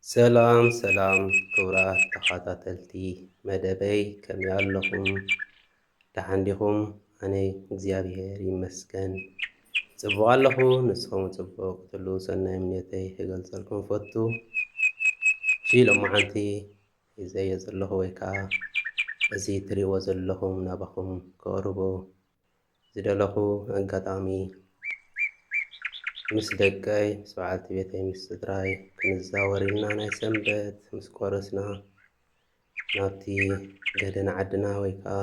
ሰላም ሰላም ክቡራት ተኸታተልቲ መደበይ ከመይ ኣለኹም? ደሓን ዲኹም? ኣነ እግዚኣብሄር ይመስገን ጽቡቕ ኣለኹ። ንስኹም ጽቡቕ ክትህሉ ሰናይ ምንዮተይ ክገልጸልኩም ፈቱ። እሺ ሎማዓንቲ ሒዘዮ ዘለኹ ወይ ከዓ እዚ እትሪእዎ ዘለኹም ናባኹም ከቕርቦ ዝደለኹ ኣጋጣሚ ምስ ደቀይ፣ ምስ በዓልቲ ቤተይ፣ ምስ ስድራይ ክንዛወር ኢልና ናይ ሰንበት ምስ ቆረስና ናብቲ ገደና ዓድና ወይ ከኣ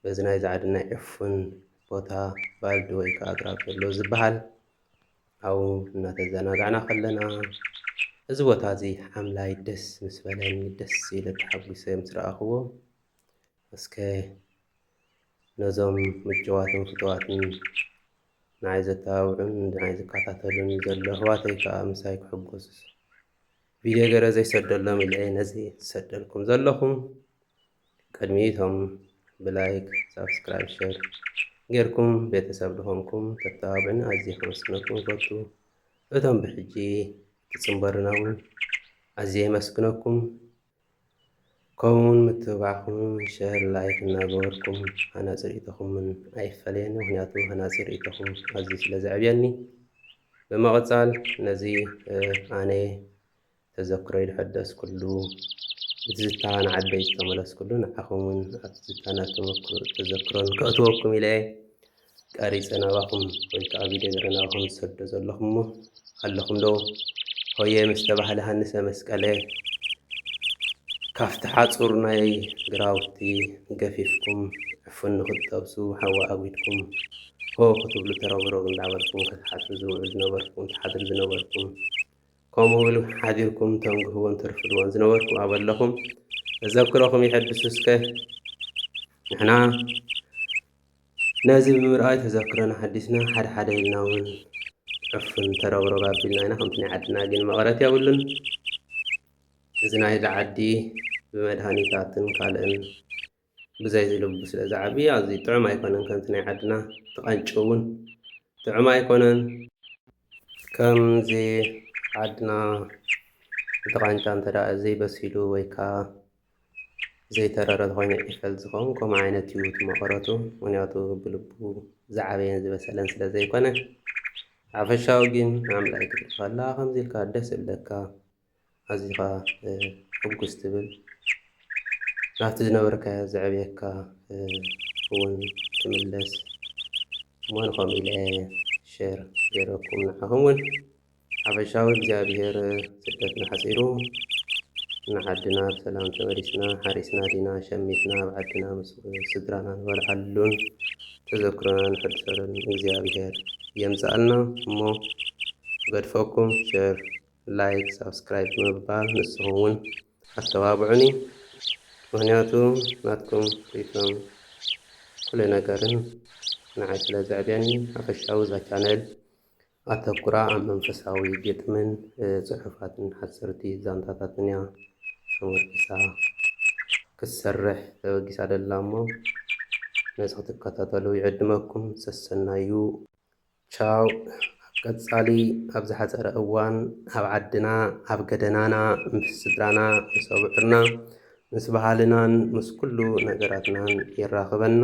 በዚ ናይዚ ዓድና ዕፉን ቦታ ባልዲ ወይ ከኣ ኣግራብ ዘሎ ዝበሃል ኣብኡ እናተዘናጋዕና ከለና እዚ ቦታ እዚ ሓምላይ ደስ ምስ በለኒ ደስ ኢለ ተሓጒሰ ምስ ረኣኽዎ እስከ ነዞም ምጭዋትን ፍትዋትን ንዓይ ዘተባብዑን ንዓይ ዝከታተሉን ዘሎ ኣሕዋተይ ከኣ ምሳይ ክሕጎሱ ቪድዮ ገረ ዘይሰደሎም ኢለ ነዚ ዝሰደልኩም ዘለኹም ቅድሚቶም ብላይክ ሳብስክራይብ ሸር ጌርኩም ቤተሰብ ዝኾንኩም ተተባብዕን ኣዝየ ከመስግነኩም ይፈቱ እቶም ብሕጂ ትጽምበሩና እውን ኣዝየ የመስግነኩም ከምኡ ውን ምትብባዕኹም ሸር ላይክ እናገበርኩም ሃናጺ ርእይቶኹም ውን ኣይፈለየኒ ምኽንያቱ ሃናጺ ርእይቶኹም ኣዝዩ ስለ ዘዕብየኒ ብምቕጻል ነዚ ኣነ ተዘክሮይ ዝሐደስኩሉ ብትዝታ ንዓደይ ዝተመለስኩሉ ንዓኹም ውን ኣብ ትዝታን ኣብ ተዘክሮን ከእትወኩም ኢለ እየ ቀሪጸ ናባኹም ወይ ከኣ ቪድዮ ገረ ናባኹም ዝሰዶ ዘለኹ እሞ ኣለኹም ዶ ሆየ ምስ ተባህለ ሃንሰ መስቀለ ካፍቲ ሓጹር ናይ ግራውቲ ገፊፍኩም ዕፉን ንኽትጠብሱ ሓዊ ኣጒድኩም ሆ ክትብሉ ተሮግሮግ እንዳበልኩም ክትሓድሩ ዝውዕሉ ዝነበርኩም ትሓድሩ ዝነበርኩም ከምኡ እውን ሓዲርኩም ተንግህዎን ተርፍድዎን ዝነበርኩም ኣበለኹም ተዘክሮኹም ይሐድሱ እስከ ንሕና ነዚ ብምርኣይ ተዘክሮና ሓዲስና ሓደ ሓደ ኢልና ውን ዕፉን ተረብረብ ኣቢልና ኢና ከምቲ ናይ ዓድና ግን መቐረት የብሉን እዚ ናይዚ ዓዲ ብመድሃኒታትን ካልእን ብዘይ ዝልቡ ስለ ዝዓቢ ኣዝዩ ጥዑም ኣይኮነን ከምቲ ናይ ዓድና ተቐንጭ ውን ጥዑም ኣይኮነን ከምዚ ዓድና እቲ ቃንጫ እንተ ዘይበሲሉ ወይ ከኣ ዘይተረረ ተኾይነ ዒፈል ዝኸውን ከምኡ ዓይነት እዩ እቲ መቐረቱ ምክንያቱ ብልቡ ዝዓበየን ዝበሰለን ስለ ዘይኮነ ሓፈሻዊ ግን ኣምላይ ክትርኢ ከላ ከምዚ ኢልካ ደስ እብለካ ኣዚኻ ሕጉስ ትብል ናብቲ ዝነበርካዮ ዘዕብየካ እውን ትምለስ እሞ ንኸምኡ ኢለ ሸር ገይረኩም ንዓኹም እውን ሓፈሻዊ እግዚኣብሔር ስደትና ሓጺሩ ንዓድና ብሰላም ተመሊስና ሓሪስና ዲና ሸሚትና ኣብ ዓድና ምስ ስድራና ንበልዓሉን ተዘክሮና ንሕድሰሉን እግዚኣብሔር የምጽኣልና እሞ እገድፈኩም ሸር ላይክ ሳብስክራይብ ብምባል ንስኹም ውን ኣተባብዑኒ ምኽንያቱ ናትኩም ሪኢቶን ኩለ ነገርን ንዓይ ስለ ዘዕብየኒ ሓፈሻዊ እዛ ቻነል ኣተኵራ ኣብ መንፈሳዊ ግጥምን ጽሑፋትን ሓጸርቲ ዛንታታትን እያ ተመርኲሳ ክትሰርሕ ተበጊሳ ዘላ እሞ ነዚ ክትከታተሉ ይዕድመኩም። ሰሰናዩ! ቻው ኣብ ቀጻሊ ኣብ ዝሓጸረ እዋን ኣብ ዓድና ኣብ ገደናና ምስ ስድራና ምስ ኣብዑርና ምስ ባህልናን ምስ ኩሉ ነገራትናን የራኽበና